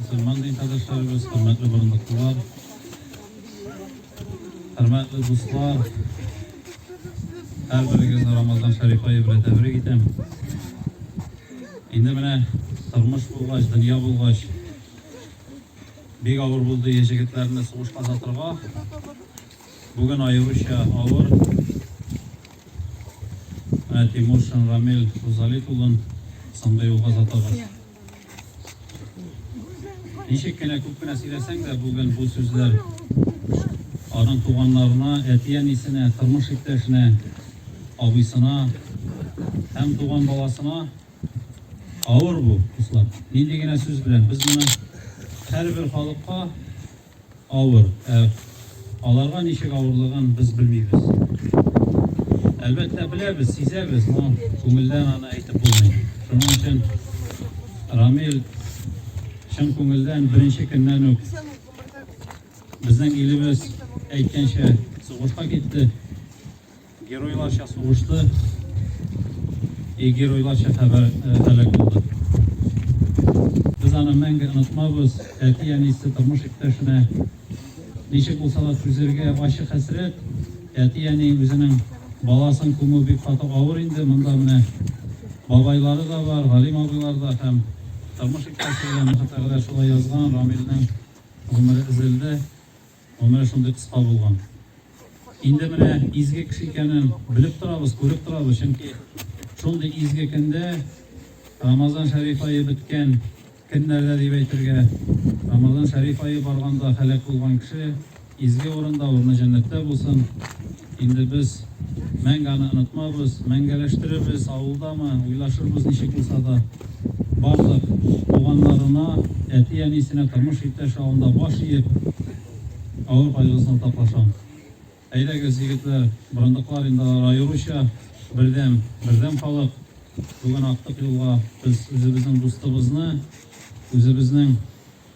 Мөселман илдәшләребез, хөрмәтле борындыклылар, хөрмәтле дуслар, һәрберегезне Рамазан шәриф ае белән тәбрик итәм. Инде менә тормыш булгач, дөнья булгач, бик авыр булды егетләрне сугышка озатырга. Бүген аеруча авыр. Тимур Шамрамил Рузалит улын соңгы юлга озатабыз. Ничек кенә күп кенә сөйләсәң дә, бүген бу сүзләр аның туганнарына, әти-әнисенә, тормыш иптәшенә, абыйсына һәм туган баласына авыр бу, дуслар. Нинди генә сүз белән без моны һәрбер халыкка Авыр, ә аларга ничек авырлыгын без белмибез. Әлбәттә, беләбез, сизәбез, но күңелдән аны әйтеп булмый. Шуның өчен Рамил чын күңелдән беренче көннән үк безнең илебез әйткәнчә сугышка китте. Геройларча сугышты и геройларча хәбәр һәлак булды. Без аны мәңге онытмабыз, әти-әнисе тормыш иптәшенә ничек булса да түзергә ачы хәсрәт, әти-әни үзенең баласын күмү бик каты авыр инде, монда менә бабайлары да бар, Галим абыйлар да һәм тормыш иптәше белән хәтта шулай язган, Рамилнең гомере өзелде. Гомере шундый кыска булган. Инде менә изге кеше икәнен белеп торабыз, күреп торабыз, чөнки шундый изге көндә Рамазан шәриф айы беткән көннәрдә дип әйтергә, Рамазан шәриф айы барганда һәлак булган кеше изге урында, урыны җәннәттә булсын. Инде без мәңге аны онытмабыз, мәңгәләштерербез, авылдамы, уйлашырбыз ничек булса да. Барлык туганнарына, әти-әнисенә, тормыш иптәше алдында баш иеп, авыр кайгысын уртаклашам. Әйдәгез, егетләр, борындыклар инде алар аеруча бердәм, бердәм халык. Бүген актык юлга без үзебезнең дустыбызны, үзебезнең.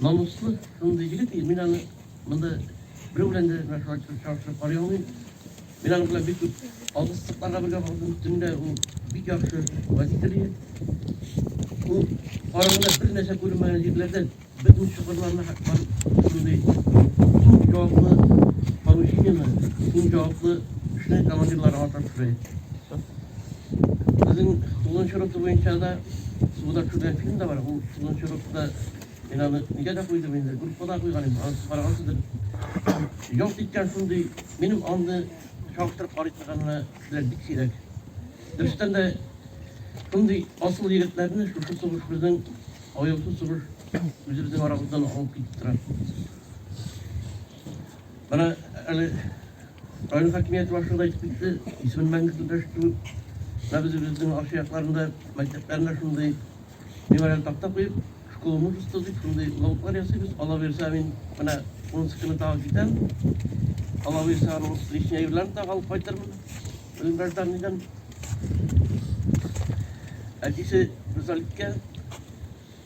Намуслы шундый егет, мин аны монда берәү белән дә чагыштырып карый алмыйм. Мин аның белән бик күп алгысызлыкларга бергә бардым. Төнлә ул бик яхшы водитель иде. Ул караңгыда бер нәрсә күрмәгән җирләрдә бөтен чокырларны шундый иң җаваплы поручениены, иң җаваплы эшне командирларга тапшырды. Безнең Тулун Чурыпты буенча да суда төшергән фильм да бар. Бу Тулун Чурыпта мин аны нигә дә куйдым инде, группа да куйган инде, аны карагансыздыр. Ялт иткән шундый, минем аны чагыштырып карый торганына кешеләр бик сирәк. Дөрестән дә шундый асыл егетләрне шушы сугыш безнең аяусыз сугыш үзебезнең арабыздан алып китеп тора. Менә әле район хакимияте башлыгы да әйтеп китте, исемен мәңге көндәштерү. Менә без үзебезнең арча якларында мәктәпләренә шундый мемориаль такта куеп, школа мужества дип шундый лотлар ясыйбыз. Алла бирсә, мин менә унысы көне тагы китәм. Алла бирсә, аның лишнее әйберләрен тагы алып кайтырмын. Үзем гражданнидән. Әтисе Русаликкә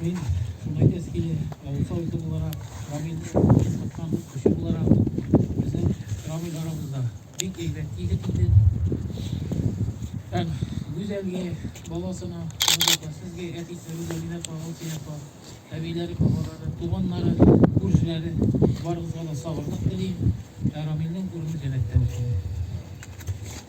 Мин Сумайтес киле авыл советы буларак, Рамин Саткан кеше буларак, безнең Рамин арамызда бик әйбәт егет иде. Һәм Гүзәлгә, баласына, сезгә әтисе Гүзәлгә кагыл тияпа, әбиләре, бабалары, туганнары, күршеләре барыгызга да сабырлык телим. Раминның урыны җәнәттә булсын.